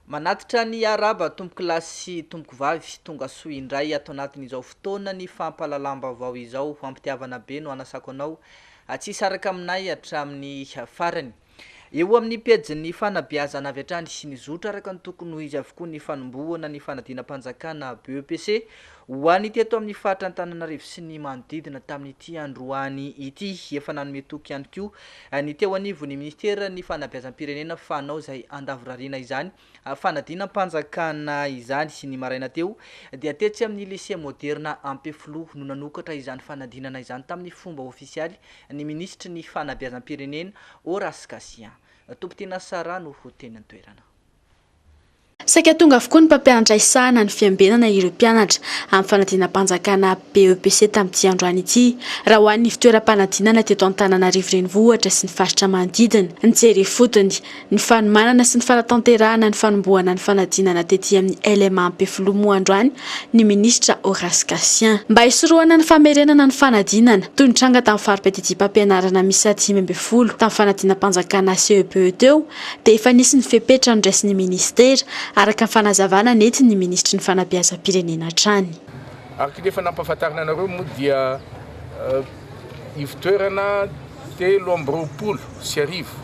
Manatitra ny Arahaba Tompokolahy sy Tompokovavy, tonga soa indray ato anatin'izao fotoana ny fampahalalam-baovao izao, ampitiavana be no anasako anao tsy hisaraka aminay hatramin'ny farany. Eo amin'ny pejin'ny fanabeazana avy hatrany nizotra araka ny tokony ho izy avokoa ny fanombohana ny fanadinam-panjakana BEPC, Ho an'ny teto amin'ny faritra Antananarivo sy ny manodidina tamin'ity androany ity, efa nanome toky ihany koa ny teo anivon'ny Minisiteran'ny Fanabeazam-pirenena fa hanao izay handavorariana izany fanadinam-panjakana izany. Ny maraina teo dia tetsy amin'ny Lycée Moderna Ampefiloha no nanokatra izany fanadinana izany tamin'ny fomba ofisialy ny Minisitry ny Fanabeazam-pirenena, Horace Gatien. Tompon-tena Sarah no ho teny an-toerana. Saika tonga avokoa ny mpampianatra hisahana ny fiambenana ireo mpianatra amin'ny fanadinam-panjakana BEPC tamin'ity androany ity. Raha ho an'ny fitoeram-panadinana teto Antananarivo Renivohitra sy ny faritra manodidina, ny jery ifotony, ny fanomanana sy ny fanatanterahana ny fanombohana ny fanadinana tety amin'ny LMA Ampefiloha moa androany ny minisitra Horace Gatien. Mba hisorohana ny famerenana ny fanadinana, toy ny tranga tamin'ny fari-piadidiam-pampianarana miisa dimy ambin'ny folo tamin'ny fanadinam-panjakana CEPE teo, dia efa nisy ny fepetra noraisin'ny minisitera, araka ny fanazavana nentin'ny minisitry ny fanabeazam-pirenena hatrany. Ary k'ity efa nampahafantarina anareo moa dia ivo-toerana telo amby roapolo sy arivo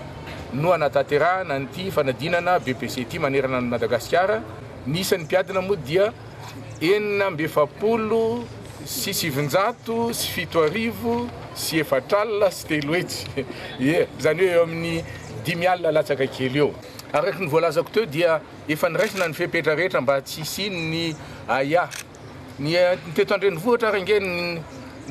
no hanatanterahana an'ity fanadinana BEPC ity manerana an'i Madagasikara, ny isan'ny mpiadina moa dia enina amby efapolo. sy sivinjato sy fito arivo sy efatra alina sy telo hetsy, ie, izany hoe eo amin'ny dimy alina latsaka kely eo. Araka ny voalazako teo dia efa niraisina ny fepetra rehetra mba tsy hisian'ny ahiahy. Ny teto an-drenivohitra ary ange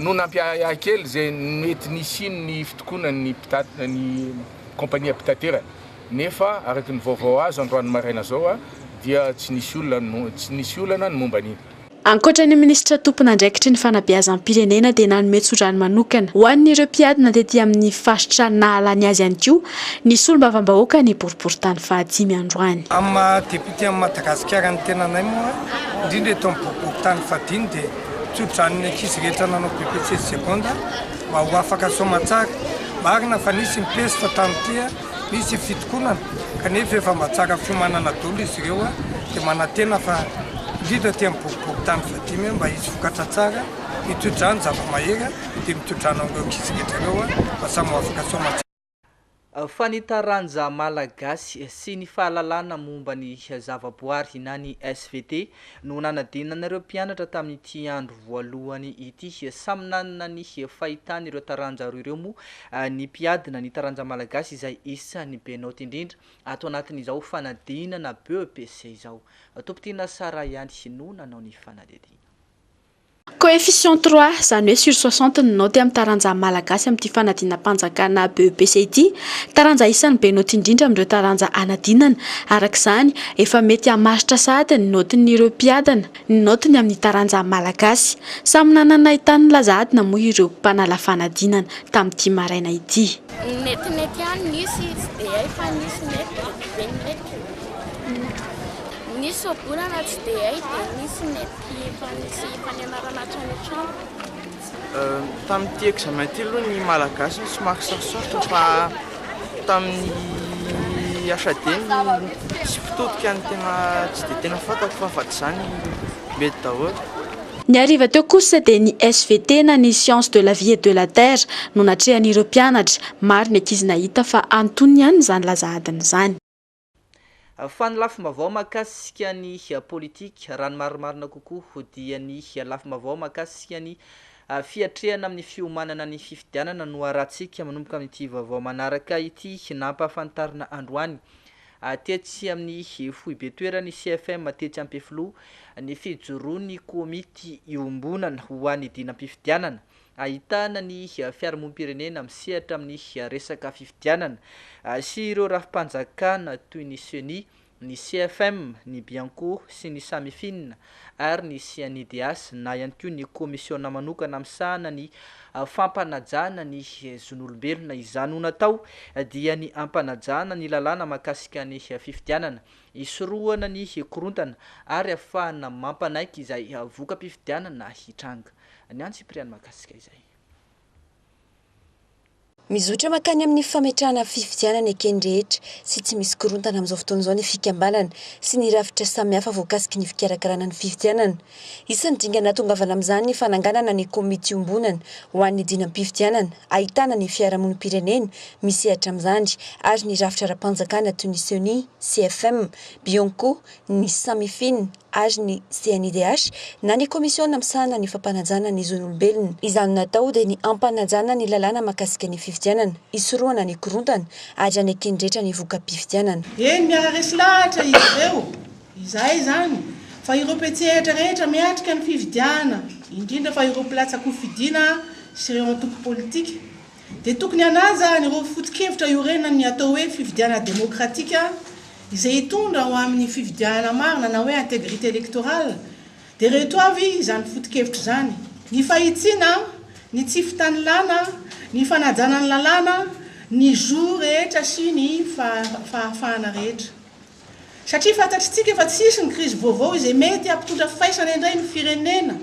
no nampiahiahy kely izay mety nisian'ny fitokonan'ny mpitatitra ny kaompania mpitaterana, nefa araka ny vaovao azo androany maraina izao dia tsy nisy olana, tsy nisy olana ny momba an'iny. Ankoatra ny minisitra tompon'andraikitry ny fanabeazam-pirenena dia nanome tsodrano manokana ho an'ireo mpiadina tety amin'ny faritra nahalany azy ihany koa ny solombavambahoaka ny boriborintany fahadimy androany. Amin'ny maha député an'i Madagasikara ny tenanay moa, indrindra eto amin'ny boriborintany fahadimy dia tsodrano ny ankizy rehetra nanao BEPC sy Seconda mba ho afaka soamantsara. Marina fa nisy ny pesta tamin'ity. Misy fitokonana kanefa efa mba tsara fiomanana dolo izy ireo dia manantena fa indrindra aty amin'ny boriborintany fahadimy mba hisy vokatra tsara mitodrany zava-mahery dia mitodrany ao amin'ireo ankizy rehetra ireo mba samy ho afaka soamantsara. Fa ny taranja malagasy sy ny fahalalana momba ny zavaboary na ny svt no nanadinan'ireo mpianatra tamin'ity andro voalohany ity. Samy nanana ny fahitany ireo taranja roa ireo moa ny mpiadina, ny taranja malagasy izay isan'ny be naoty indrindra ato anatin'izao fanadinana BEPC izao. Tompon-tiana Sarah ihany no nanao ny fanadihadiana. Coefficient trois, izany hoe sur soixante ny naoty amin'ny taranjan'ny Malagasy amin'ity fanadinam-panjakana BEPC ity. Taranja isan'ny be naoty indrindra amin'ireo taranja hanadinana. Araka izany, efa mety hamaritra sahady ny naotin'ireo mpiadana ny naotiny amin'ny taranjan'ny Malagasy. Samy nanana ny tany nilaza adina moa ireo mpanala fanadinana tamin'ity maraina ity. Ny metimety ihany nisy, tsy dia hay fa nisy mety dia be ny mety. Nisy soa-bolana tsy dia hay dia nisy mety. Efa nisy fanianarana hatrany an-trano? Tamin'ity examen ity aloha ny Malagasy no somary sarosarotra fa tamin'ny HAD ny sy mpitodika no tena tsy dia tena fantako fa afa-tsy izany mety daholo. Ny hariva teo kosa dia ny SVT na ny Sciences de la vie et de la terre no natrehan'ireo mpianatra. Maro ny ankizy nahita fa antonony ihany izany laza adina izany. Fa ny lafim-baovao mahakasika ny politika, raha ny marimarina kokoa dia ny lafim-baovao mahakasika ny fiatrehana amin'ny fiomanana ny fifidianana no harahantsika manomboka amin'ity vaovao manaraka ity nampahafantarina androany tetsy amin'ny foibe toeran'ny CFM tetsy Ampefiloha ny fijoroan'ny komity iombonana ho an'ny dinam-pifidianana ahitana ny fiarahamonim-pirenena misehatra amin'ny resaka fifidianana sy ireo rafi-panjakana toy ny Ceni, ny CFM, ny Bianco sy ny Samifin ary ny CNIDH na ihany koa ny Komisiona manokana misahana ny fampanajana ny zon'olombelona. Izany ho natao dia ny hampanajana ny lalàna mahakasika ny fifidianana, hisorohana ny korontana ary hahafahana mampanaiky izay voka-pifidianana hitranga. Ny an'i Cyprian mahakasika izay. Mizotra mankany amin'ny fametrahana fifidianana eken'ny rehetra sy tsy misy korontana amin'izao fotoana izao ny fikambanana sy ny rafitra samihafa voakasiky ny fikarakarana ny fifidianana. Isan'ny dingana natongavana amin'izany ny fananganana ny komity iombonana ho an'ny dinam-pifidianana ahitana ny fiarahamonim-pirenena misehatra amin'izany ary ny rafitra ara-panjakana toy ny Ceni, CFM, Bionco, ny Samifin, ary ny CNIDH na ny Komisiona misahana ny fampanajana ny zon'olombelona. Izany natao dia ny hampanajana ny lalàna mahakasika ny fifidianana, hisorohana ny korontana ary haneken'ny rehetra ny voka-pifidianana. Eny, miara-resy lahatra izy ireo, izay izany, fa ireo mpiantsehatra rehetra miatrika ny fifidianana, indrindra fa ireo mpilatsa-kofidina sy ireo antoko politika. dia tokony hanaja an'ireo foto-kevitra iorenan'ny atao hoe fifidianana demokratika izay hitondra ho amin'ny fifidianana marina na hoe integrité électorale, dia ireto avy izany foto-kevitra izany, ny fahitsiana, ny tsy fitanilana, ny fanajana ny lalàna, ny zo rehetra sy ny fahafahana rehetra. Satria fantatritsika fa tsy hisy ny krizy vaovao izay mety hampitondra faisana indray ny firenena,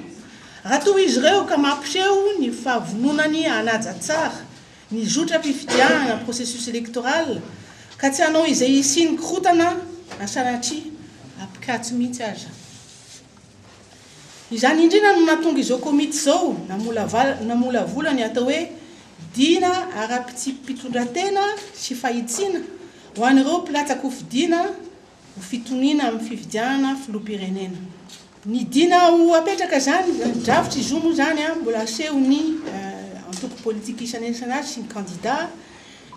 raha toa izy ireo ka mampiseho ny fahavononany hanaja tsara ny zotram-pifidianana, processus électoral, ka tsy hanao izay hisian'ny korontana, na sanatria apikatso mihitsy aza. Izany indrina no nahatonga izao komity izao namolavola ny atao hoe Dina ara-pitsipi-pitondran-tena sy fahitsiana ho an'ireo mpilatsa-kofidina ho fitoniana amin'ny fifidianana filoham-pirenena. Ny Dina ho hapetraka izany, na ny drafitry izy io moa izany mbola hasehon'ny antoko politika isanisany sy ny kandida.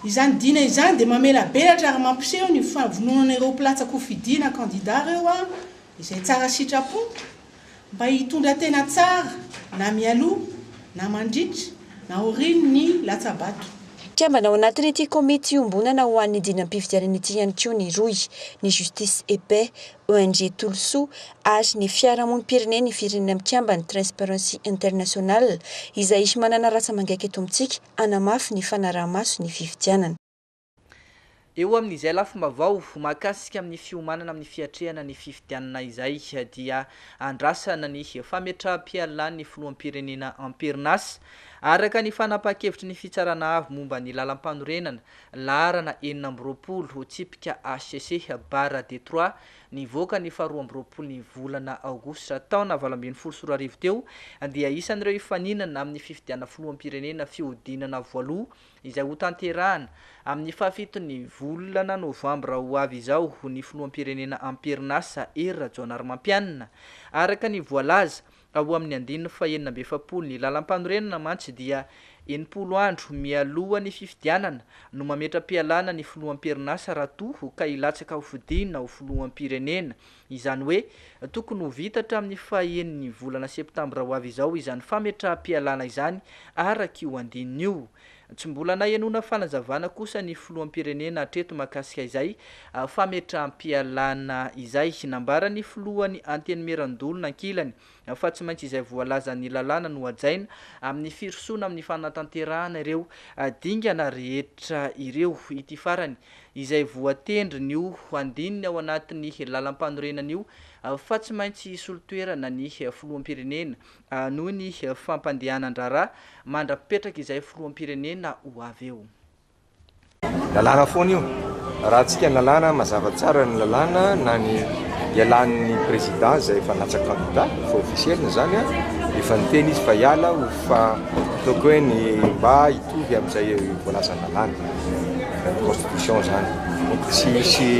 Izany Dina izany dia mamelabelatra ary mampiseho ny fahavononana ireo mpilatsa-kofidina kandida ireo Izay tsara sitrapo mba hitondra tena tsara na mialoha na mandritra na aorian' ny latsa-bato. Kambana ao anatin' ity Komity Iombonana ho an' ny Dinam-pifidianana ity ihany koa ny Rohy, ny Justice et Paix, ONG Tolosoa ary ny Fiarahamonim-pirenena Ifirinina Mikambana, Transparency International, izay manana rantsa-mangaika eto amintsika hanamafy ny fanaraha-maso ny fifidianana. Eo amin' izay lafim-baovao mahakasika ny fiomanana amin'ny fiatrehana ny fifidianana izay dia andrasana ny fametraham-pialan'ny filoham-pirenena am-perinasa, araka ny fanapahan-kevitry ny Fitsarana Avo momba ny Lalampanorenana, laharana enina amby roapolo, tsipika HCC, barra de trois, nivoaka ny faharoa amby roapolo ny volana aogositra taona valo ambin'ny folo sy roa arivo teo, dia isan'ireo hifaninana amin'ny fifidianana filoham-pirenena fihodinana voaloha izay hotanterahana amin'ny fahafiton'ny volana novambra ho avy izao ho ny filoham-pirenena am-perinasa Hery Rajaonarimampianina. Araka ny voalaza ao amin'ny andininy fahenina amby efapolo ny lalampanorenana mantsy dia enimpolo andro mialoha ny fifidianana no mametra-pialana ny filoham-perinasa raha toa ka hilatsaka ho fidina ho filoham-pirenena Izany hoe, tokony ho vita hatramin'ny fahaenin'ny volana septambra ho avy izao izany fametraham-pialana izany, araka io andininy io. Tsy mbola nahenoana fanazavana kosa ny filoham-pirenena hatreto mahakasika izay fametraham-pialana izay. Nambaran'ny filohany Antenimierandoholona ankilany, fa tsy maintsy izay voalazan'ny lalàna no hajaina amin'ny firosoana amin'ny fanatanterahana ireo dingana rehetra ireo. Ity farany, izay voatendrin'io andininy ao anatin'ny lalampanorenana io fa tsy maintsy hisolo toerana ny filoham-pirenena noho ny fampandehanan-draharaha mandra-pipetraka izay filoham-pirenena ho avy eo. Lalàna foana io. Raha antsika lalàna, mazava tsara ny lalàna na ny hialan'ny président izay efa natsaka candidat, efa officiel ny izany an, efa niteny izy fa hiala ho fa ataoko hoe ny mba hitovy amin'izay voalazan'ny lalàna, ny constitution izany. Donc tsy hisy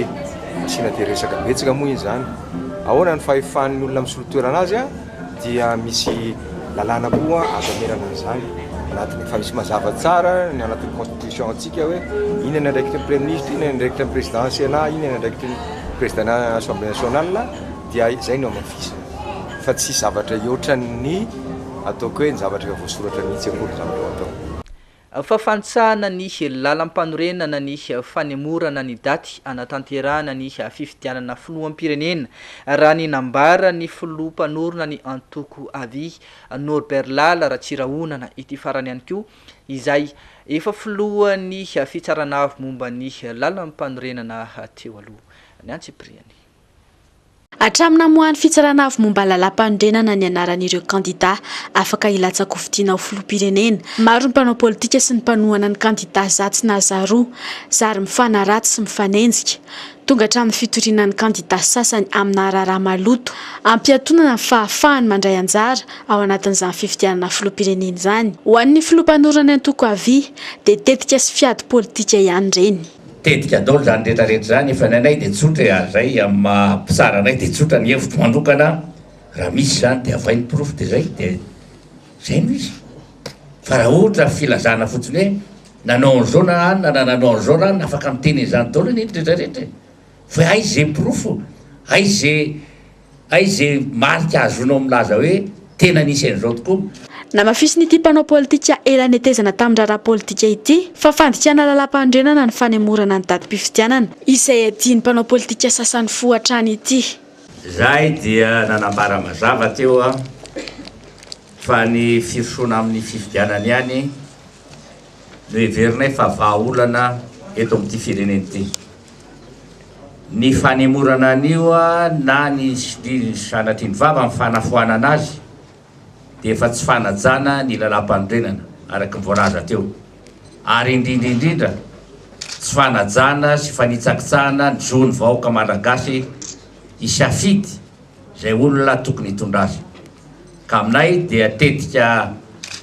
asiana dia resaka betsaka moa iny izany. Ahoana ny fahefan'ny olona misolo toerana azy an? dia misy lalàna koa azo amerana an'izany anatiny, fa misy mazava tsara ny anatin'ny constitution antsika hoe inona ny andraikitry ny praiminisitra, inona ny andraikitry ny président senat, inona ny andraikitry ny président assemblée nationale dia izay no hamafisina fa tsy zavatra hihoatra ny ataoko hoe ny zavatra efa voasoratra mihitsy akory ny zavatra ho atao. Fahafantsahana ny lalam-panorenana ny fanemorana ny daty hanatanterahana ny fifidianana filoham-pirenena, raha ny nambaran'ny filoha mpanorina ny antoko avy, Norbert Lala Ratsirahonana ity farany ihany koa, izay efa filohan'ny fitsarana avo momba ny lalam-panorenana teo aloha. Ny antsipiriany. Hatramin'ny namoahan'ny Fitsarana Avo momba Lalàmpanorenana ny anaran'ireo kandidà afaka hilatsa-kofidina ho filoham-pirenena, maro ny mpanao politika sy ny mpanohana ny kandidà zatsy na zaroa, zary mifanaratsy sy mifanenjika, tonga hatramin'ny fitoriana ny kandidà sasany aminà raharaha maloto ampiatonana ny fahafahany mandray anjara ao anatin'izany fifidianana filoham-pirenena izany. Ho an'ny Filoha mpanorina ny antoko Avia dia tetika sy fiady politika ihany ireny. Tetika daholo izany rehetra rehetra izany, nefa ny anay dia tsotra e, ary izay amin'ny maha mpitsara anay dia tsotra ny hevitro manokana, raha misy izany dia avay ny porofo dia izay, dia izay no izy. Fa raha ohatra filazana fotsiny hoe nanao an'izao na anona na nanao an'izao na anona, afaka miteny an'izany daholo anie ny rehetra rehetra e, fa hay ze porofo, hay ze. Aiza ze marika azonao milaza hoe tena nisy an'izao tokoa? Namafisin'ity mpanao politika ela netezana tamin-draharaha politika ity fa fandikana lalàmpanorenana ny fanemorana ny datim-pifidianana, izay adin'ny mpanao politika sasany fo hatrany ity. Izahay dia nanambara mazava teo fa ny firosoana amin'ny fifidianana ihany no heverinay fa vahaolana eto amin'ity firenena ity. Ny fanemorana an'io na ny sanatria ny vava amin'ny fanafoanana azy dia efa tsy fanajana ny Lalàmpanorenana araka ny voalaza teo ary indrindra indrindra tsy fanajana sy fanitsakitsahana ny zon'ny vahoaka Malagasy hisafidy izay olona tokony hitondra azy ka aminay dia tetika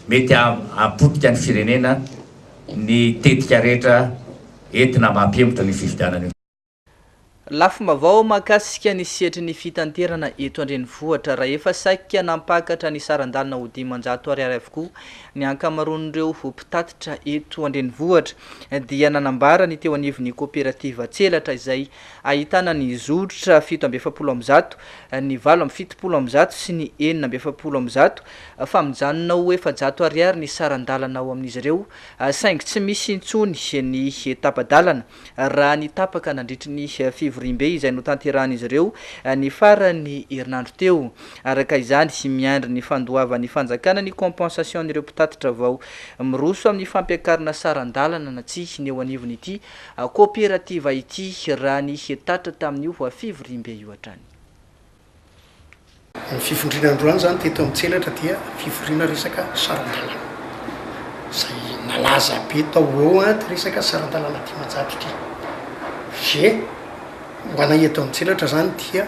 mety hahapotika ny firenena ny tetika rehetra Entina mba hampihemotra ny fifidianana io. Lafim-baovao mahakasika ny sehatry ny fitanterana eto an-drenivohitra. Rahefa saika nampakatra ny saran-dalana ho dimanjato ariary avokoa ny ankamaroan'ireo mpitatitra eto an-drenivohitra dia nanambara ny teo anivon'ny koperativa Tselatra izay ahitana ny zotra fito amby efapolo amby zato, ny valo amby fitopolo amby zato sy ny enina amby efapolo amby zato fa mijanona ho efajato ariary ny saran-dalana ao amin'izy ireo saingy tsy misy intsony ny tapa-dalana raha ny tapaka nandritry ny fivoriambe izay notanterahan'izy ireo ny faran'ny herinandro teo. Araka izany, miandry ny fandoavan'ny fanjakana ny compensation-n'ireo mpitatitra vao miroso amin'ny fampiakarana saran-dalana na tsia ny eo anivon'ity koperativa ity, raha ny tatra tamin'io fivoriambe io hatrany. Ny fivoriana androany izany teto amin'ny Tselatra dia fivoriana resaka saran-dalana izay nalaza be tao ho eo an, ity resaka saran-dalana dimanjato ity. Ve ho anay eto amin'ny Tselatra izany dia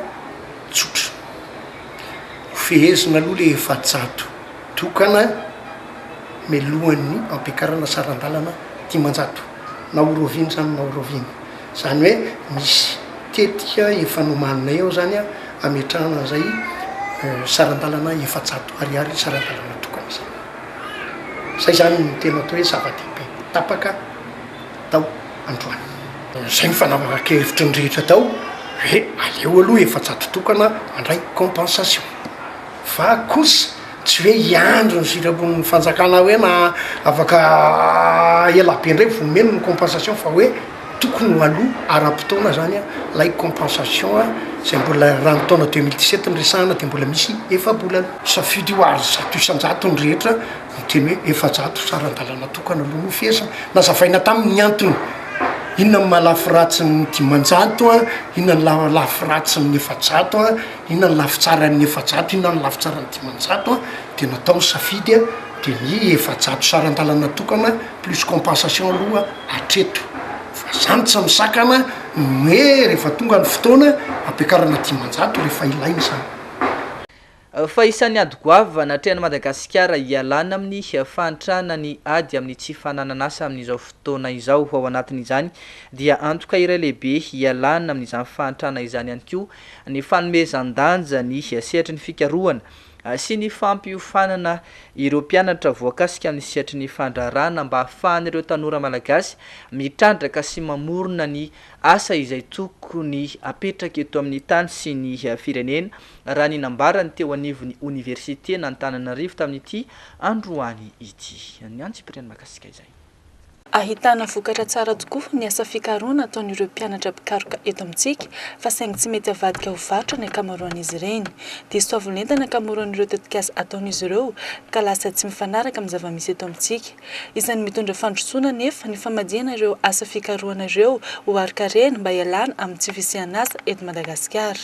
tsotra. Hofehezina aloha ilay efajato tokana mialohan'ny hampiakarana saran-dalana dimanjato. Na ho rahoviana izany na ho rahoviana. Izany hoe misy tetika efa nomaninay ao izany hametrahana an'izay saran-dalana efajato ariary saran-dalana tokana izay. Izay izany no tena atao hoe zava-dehibe tapaka tao androany. Izay no fanapakevitry ny rehetra tao hoe aleo aloha efajato tokana mandray compensation. Fa kosa Tsy hoe hiandry ny sitrapon'ny fanjakana hoe na afaka ela be indray vao omeny ny compensation fa hoe tokony ho aloa ara-potoana zany ilay compensation izay mbola raha ny taona deux mille dix sept no resahana dia mbola misy efa-bolana. Safidy io ary zato isan-jato ny rehetra miteny hoe efa-jato sy ara-dalàna tokana aloha no fihesiny. Nazavaina taminy ny antony inona no maha lafy ratsy ny dimanjato, inona no lafy ratsy ny efa-jato. Inona ny lafitsaran'ny efajato, inona ny lafitsaran'ny dimanjato dia natao ny safidy dia ny efajato saran-dalana tokana plus compensation aloha hatreto fa zany tsy misakana ny hoe rehefa tonga ny fotoana ampiakarana dimanjato rehefa ilaina izany. Fa isan'ny ady goavana atrehan'i Madagasikara hialana amin'ny fahantrana ny ady amin'ny tsy fananan'asa amin'izao fotoana izao. Ao anatin'izany dia antoka iray lehibe hialana amin'izany fahantrana izany ihany koa ny fanomezan-danja ny sehatry ny fikarohana sy ny fampiofanana ireo mpianatra voakasika amin'ny sehatry ny fandraharahana mba hahafahan'ireo tanora malagasy mitrandraka sy mamorona ny asa izay tokony hapetraka eto amin'ny tany sy ny firenena, raha ny nambaran'ny teo anivon'ny oniversiten'Antananarivo tamin'ity androany ity. Ny antsipiriany mahakasika izay. Ahitana vokatra tsara tokoa ny asa fikarohana ataon'ireo mpianatra mpikaroka eto amintsika fa saingy tsy mety avadika ho varotra ny ankamaroan'izy ireny. Diso fahavolentana ny ankamaroan'ireo tetikasa ataon'izy ireo ka lasa tsy mifanaraka amin'ny zava-misy eto amintsika. Isan'ny mitondra fandrosoana anefa ny famadihana ireo asa fikarohana ireo ho arin-karena mba hialana amin'ny tsy fisian'asa eto Madagasikara.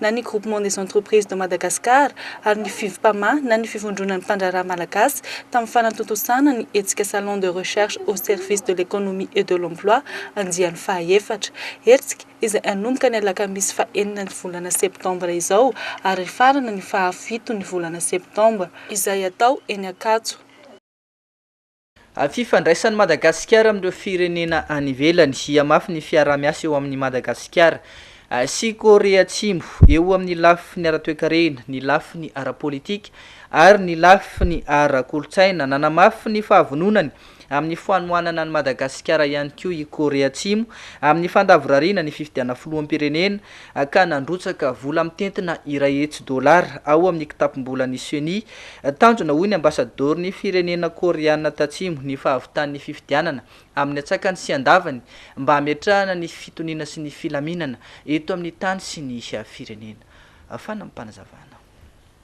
na ny Groupement des Entreprises de Madagascar ary ny Fivpama na ny Fivondronan'ny Mpandraharaha Malagasy tamin'ny fanatontosana ny hetsika Salon de Recherche au service de l'Economie et de l'Emploi andiany fahaefatra. Hetsika izay hanomboka ny alakamisy fahenina ny volana septambra izao ary hifarana ny fahafito ny volana septambra. Izay hatao eny Ankatso. Amin'ny fifandraisan'i Madagasikara amin'ireo firenena any ivelany, hihamafy ny fiaraha-miasa eo amin'i Madagasikara sy Korea Atsimo eo amin'ny lafiny ara-toekarena, ny lafiny ara-politika ary ny lafiny ara-kolontsaina. Nanamafy ny fahavononany amin'ny fanohanana an'i Madagasikara ihany koa i Korea Atsimo amin'ny fandavorariana ny fifidianana filoham-pirenena ka nandrotsaka vola mitentina iray hetsy dolara ao amin'ny kitapom-bolan'ny Ceni. Tanjona, hoy ny Ambasadaoron'ny firenena Koreana Tatsimo, ny fahavitan'ny fifidianana amin'ny antsakany sy andavany mba hametrahana ny fitoniana sy ny filaminana eto amin'ny tany sy ny firenena. Fanampim-panazavana.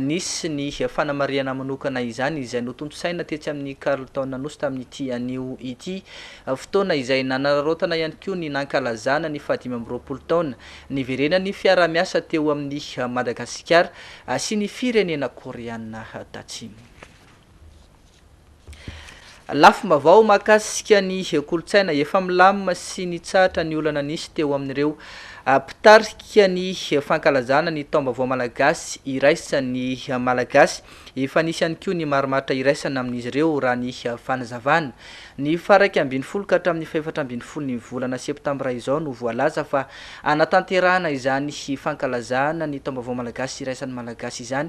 Nisy ny fanamarihana manokana izany izay notontosaina tetsy amin'ny Carlton Anosy tamin'ity anio ity, fotoana izay nanararaotana ihany koa ny nankalazana ny fahadimy amby roapolo taona niverenan'ny fiaraha-miasa teo amin'i Madagasikara sy ny firenena Koreana Tatsimo. Lafim-baovao mahakasika ny kolontsaina, efa milamina sy nitsahatra ny olana nisy teo amin'ireo mpitarika ny fankalazana ny taom-baovao malagasy iraisan'ny Malagasy. Efa nisy ihany koa ny marimaritra iraisana amin'izy ireo, raha ny fanazavana. Ny faharaika ambin'ny folo ka hatramin'ny fahefatra ambin'ny folon'ny volana septambra izao no voalaza fa hanatanterahana izany fankalazana ny taom-baovao malagasy iraisan'ny Malagasy izany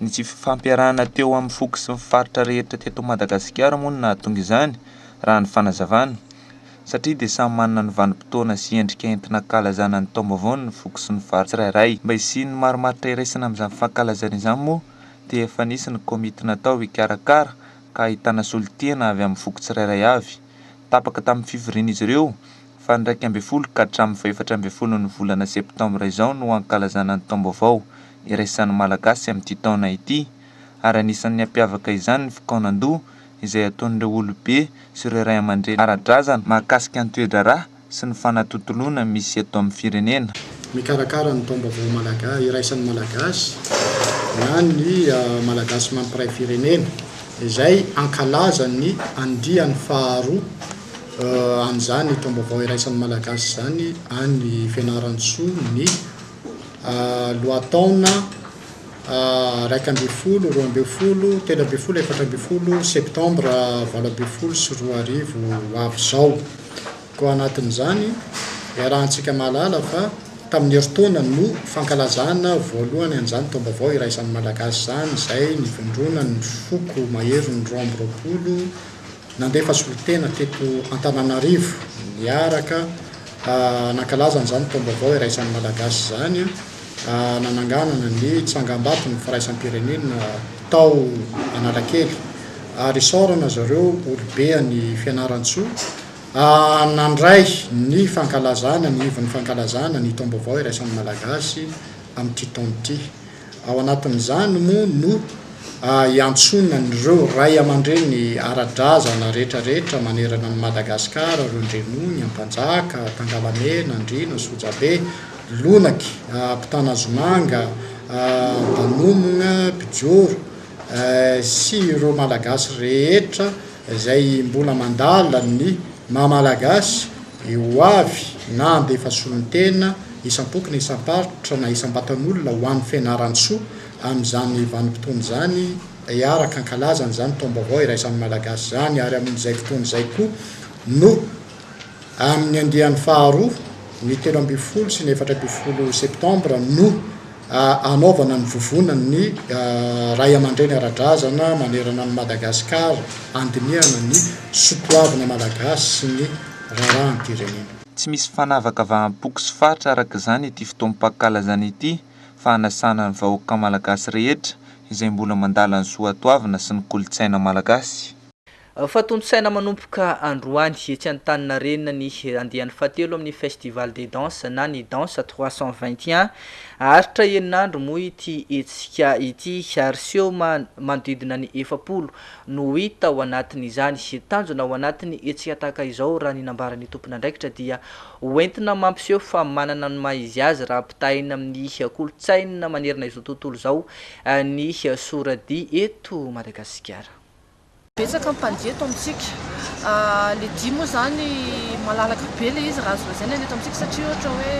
Ny tsy fifampiarahana teo amin'ny foko sy ny faritra rehetra teto Madagasikara moa no nahatonga izany, raha ny fanazavana. Satria dia samy manana ny vanim-potoana sy endrika entina ankalazana ny taom-baovao ny foko sy ny faritra tsirairay. Mba hisian'ny marimaritra iraisana amin'izany fankalazana izany moa dia efa nisy ny komity natao hikarakara ka ahitana solontena avy amin'ny foko tsirairay avy. tapaka tamin'ny fivorian'izy ireo faha iraika ambin'ny folo ka hatramin'ny faha efatra ambin'ny folon'ny volana septambra izao no hankalazana ny taom-baovao iraisan'ny Malagasy amin'ity taona ity ary anisan'ny hampiavaka izany ny fikaonandoha izay ataon'ireo olobe sy ireo ray aman-dreny ara-drazana mahakasika ny toe-draharaha sy ny fanatontoloana misy eto amin'ny firenena. Mikarakara ny Taom-baovao Malagasy iraisan'ny Malagasy na ny Malagasy Mampiray Firenena izay hankalaza ny andiany faharoa an'izany Taom-baovao iraisan'ny Malagasy izany any Fianarantsoa ny lohataona iraika ambin'ny folo, roa ambin'ny folo, telo ambin'ny folo, efatra ambin'ny folo septambra valo ambin'ny folo sy roa arivo ho avy izao. Tao anatin'izany, iarahantsika mahalala fa tamin'ny herintaona no fankalazana voalohany an'izany taom-baovao iraisan'ny Malagasy izany izay nivondronan'ny foko maherin'ny roa amby roapolo nandefa solontena teto Antananarivo niaraka nankalaza an'izany taom-baovao iraisan'ny Malagasy izany nananganana ny tsangambaton'ny firaisam-pirenena tao Analakely ary isaorana zareo olobe any Fianarantsoa nandray ny fankalazana ny ivon'ny fankalazana ny taom-baovao iraisan'ny Malagasy amin'ity taona ity. Ao anatin'izany moa no iantsoana an'ireo ray aman-dreny ara-drazana rehetrarehetra manerana an'i Madagasikara, ireo Ndrenony, Ampanjaka, Tangalamena, Andriana, Sojabe, Lonaky, Ampitanazomanga, Antanomogna, Bijoro, sy ireo Malagasy rehetra izay mbola mandala ny maha-Malagasy ny ho avy na handefa solontena isam-poko na isam-paritra na isam-batan'olona ho an'ny fianaran-tsoa amin'izany vanim-potoana izany hiaraka hankalazana izany taom-baovao iraisan'ny Malagasy izany ary amin'izay fotoana izay koa no Amin'ny andiany faharoa, ny telo ambin'ny folo sy ny efatra ambin'ny folo septambra no hanaovana ny vovonan'ny Ray aman-dReny ara-drazana manerana an'i Madagasikara handinihana ny sotoavina malagasy sy ny raharaham-pirenena. Tsy misy fanavakavaham-poko sy faritra araka izany ity fotoam-pankalazana ity fa hanasana ny vahoaka malagasy rehetra izay mbola mandala ny soatoavina sy ny kolontsaina malagasy. Efa tontosaina manomboka androany, etsy Antaninarenina, ny andiany fahatelo amin'ny Festival des danses na ny Danse trois cent vingt et un. Haharitra enin'andro moa ity hetsika ity ary seho manodidina ny efapolo no hita ao anatin'izany. Tanjona ao anatin'ny hetsika tahaka izao, raha ny nambaran'ny tompon'andraikitra, dia ho entina mampiseho fa manana ny maha izy azy raha ampitahaina amin'ny kolontsaina manerana izao tontolo izao ny sora-dihy eto Madagasikara. Betsaka ny mpandihy eto amintsika. Le dihy moa zany malalaka be le izy raha azo lazaina eto amintsika satria ohatra hoe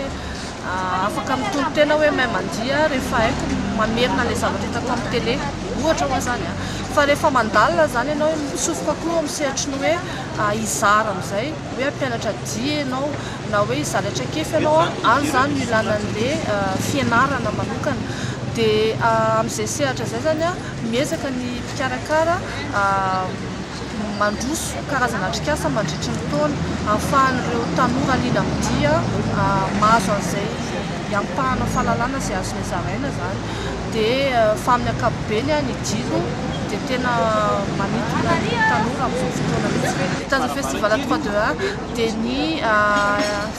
afaka mitory tena hoe mahay mandihy aho rehefa haiko mamerina le zavatra hitako amin'ny télé. Ohatra hoe zany a. Fa rehefa mandalina zany ianao mitsofoka koa amin'ny sehatry ny hoe hizara amin'izay hoe hampianatra dihy ianao na hoe hizara traikefa ianao a, any zany no ilana an'le fianarana manokana. De amin'izay sehatra izay zany a miezaka ny. mpikarakara mandroso karazana atrikasa mandritry ny taona ahafahan'ireo tanora liana amin'ny dihy mahazo an'izay iampahana fahalalana izay azony zaraina izany dia fa amin'ny ankapobeny ny dihy aloha dia tena manintona ny tanora amin'izao fotoana izao. Ny Taza Festival trois deux un dia ny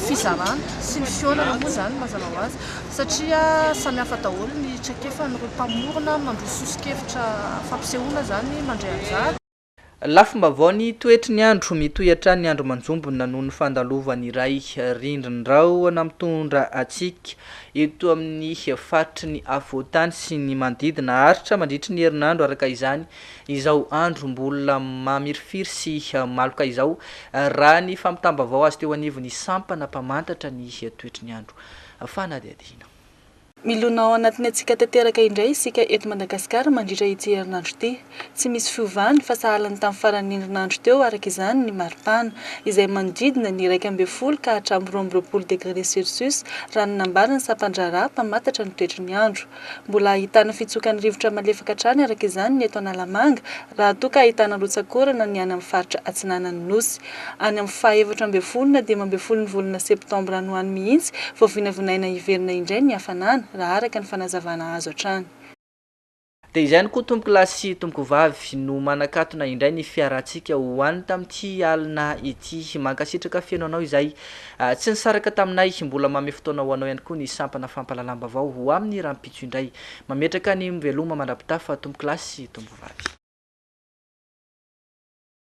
fizarana sy ny fihaonana moa izany mazava ho azy. satria samihafa daholo ny traikefan'ireo mpamorona mandroso soso-kevitra fampisehoana izany mandray anjara. Lafim-baovao Ny toetry ny andro, mitohy hatrany ny andro manjombona noho ny fandalovan'ny iray rindrin-drahona mitondra hatsiaka eto amin'ny faritry ny afovoan-tany sy ny manodidina. Haharitra mandritry ny herinandro araka izany izao andro mbola mamirifiry sy maloka izao, raha ny fampitam-baovao azo teo anivon'ny sampana mpamantatra ny toetry ny andro. fanadihadiana. Milona ao anatin'ny hatsiaka tanteraka indray isika eto Madagasikara mandritra ity herinandro ity. Tsy misy fiovana fa sahala ny tamin'ny faran'ny herinandro teo araka izany ny maripana, izay manodidina ny iraika ambin'ny folo ka hatramin'ny roa amby roapolo degré celsius, raha ny nambaran'ny sampan-draharaha mpamantatra ny toetry ny andro. Mbola ahitana fitsokan'ny rivotra malefaka hatrany araka izany ny eto Analamanga raha toa ka ahitana rotsak'orana ny any amin'ny faritra atsinanan'ny Nosy. Any amin'ny faha efatra ambin'ny folo na dimy ambin'ny folon'ny volana septambra any ho any mihitsy vao vinavinaina hiverina indray ny hafanana raha araka ny fanazavana azo hatrany. Dia izay ihany koa tompoko lahy sy tompoko vavy no manakatona indray ny fiarahantsika ho any tamin'ity alina ity. Mankasitraka feno anao izay Tsy nisaraka taminay, mbola manome fotoana ho anao ihany koa ny sampana fampahalalam-baovao ho amin'ny rahampitso indray. Mametraka ny veloma mandra-pitafa, Tompokolahy sy Tompovavy.